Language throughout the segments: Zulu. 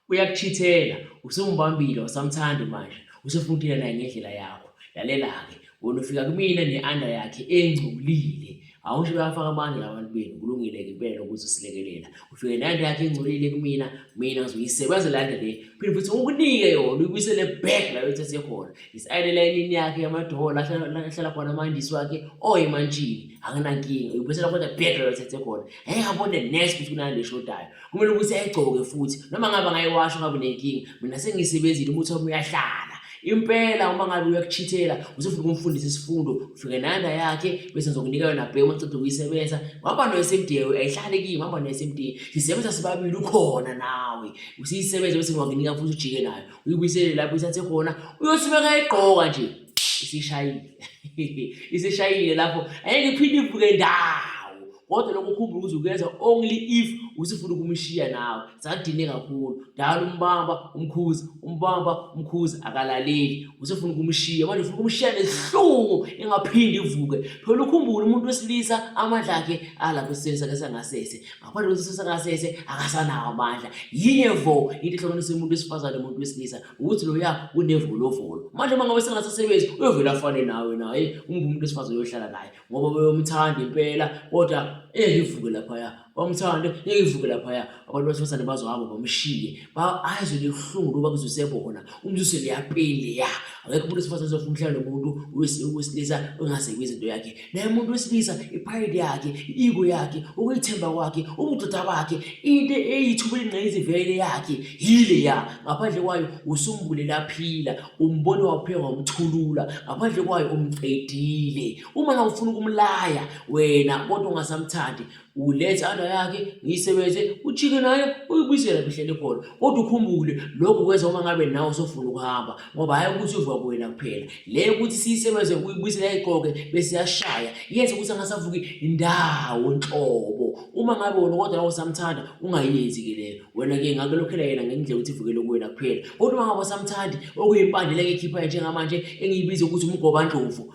uyakuchithela usumbambile usamthandi manje usufuna ukuthela naye ngendlela yakho lalela-ke wona ufika kumina ne-anda yakhe engcolile awusho bayafaka abanye labantu benu kulungile-ke impela ukuthi usilekelela ufike nanda yakhe engcolile kumina mina ngizoyisebenzela nto le phinde futhi ukunike yona uyibuyisele back la yothathe khona is-ayinela inini yakhe yamadola ahlala khona amandisi wakhe oyemantshini akunankinga uyibuyisela kodwa back la yothathe khona heyabone nes ukuthi kunani leshodayo Kumele ukuthi ayigcoke futhi noma ngabe ngayiwasha ngabe nenkinga mina sengiyisebenzile umuthi wami uyahlala impela uma ngabe uyakuchithela usefuna ukumfundisa isifundo ufike nanda yakhe bese ngizokunika yona bhe uma ceda ukuyisebenza waba noyesemdiyewe ayihlale kimi waba noyesemdiye sisebenza sibabili ukhona nawe usiyisebenze bese ngiwakunika futhi ujike nayo uyibuyisele lapho isathe khona uyosibeka igqoka nje isishayile isishayile lapho angeke iphinde ivuke ndawo kodwa lokho ukhumbula ukuthi ukwenza only if usifuna ukumshiya nawe sadine kakhulu dala umbamba umkhuza umbamba umkhuza akalaleli usifuna ukumshiya manje ufuna ukumshiya nesihlungu engaphindi ivuke phela ukhumbula umuntu wesilisa amandla akhe alapho esiseni sakhe sangasese ngaphandle kwesiseni sangasese akasanawo amandla yinye vo into ehlukanisa umuntu wesifazane umuntu wesilisa ukuthi loya unevolovolo manje uma ngabe sengasasebenzi uyovela afane nawe naye umbe umuntu esifazane uyohlala naye ngoba beyomthanda impela kodwa engeke ivuke laphaya bamthande engeke ivuke laphaya abantu basifazane bazohamba bamshiye ayizwe libuhlungu loba kuzusebona umzuse leyapeli leya akekho umuntu esifazane uzofuna umhlala nomuntu wesilisa ongasekwi izinto yakhe naye umuntu wesilisa ipride yakhe i-ego yakhe ukuyithemba kwakhe ubudoda bakhe into eyithuba elingqayizivele yakhe yile ya ngaphandle kwayo usumbulele aphila umbone wapheka wamthulula ngaphandle kwayo umqedile uma nawufuna ukumlaya wena kodwa ungasamthandi uletha ana yakhe ngiyisebenze ujike nayo uyibuyisela bihlele khona kodwa ukhumbule lokhu kwenza uma ngabe nawe usofuna ukuhamba ngoba hayi ukuthi uvuka kuwena kuphela le ukuthi siyisebenze uyibuyisela iqoke bese yashaya yenze ukuthi angasavuki indawo nhlobo uma ngabe wona kodwa nawe usamthanda ungayenzi ke leyo wena ke ngake lokhela yena ngendlela ukuthi ivukele kuwena kuphela kodwa uma ngabe usamthandi okuyimpandela ke khipha njengamanje engiyibiza ukuthi umgobandlovu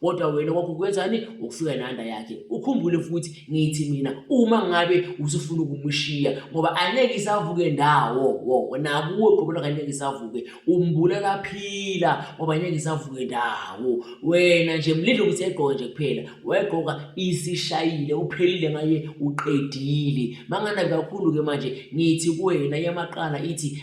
kodwa wena kwakho kwenzani ukufika nanda yakhe ukhumbule futhi ngithi mina uma ngabe usufuna ukumushiya ngoba angeke isavuke ndawo wo nakuwe qobo lakhe angeke isavuke umbulala phila ngoba angeke isavuke ndawo wena nje mlindle ukuthi egqoke nje kuphela wayegqoka isishayile uphelile ngaye uqedile manganabi kakhulu ke manje ngithi kuwena yamaqala ithi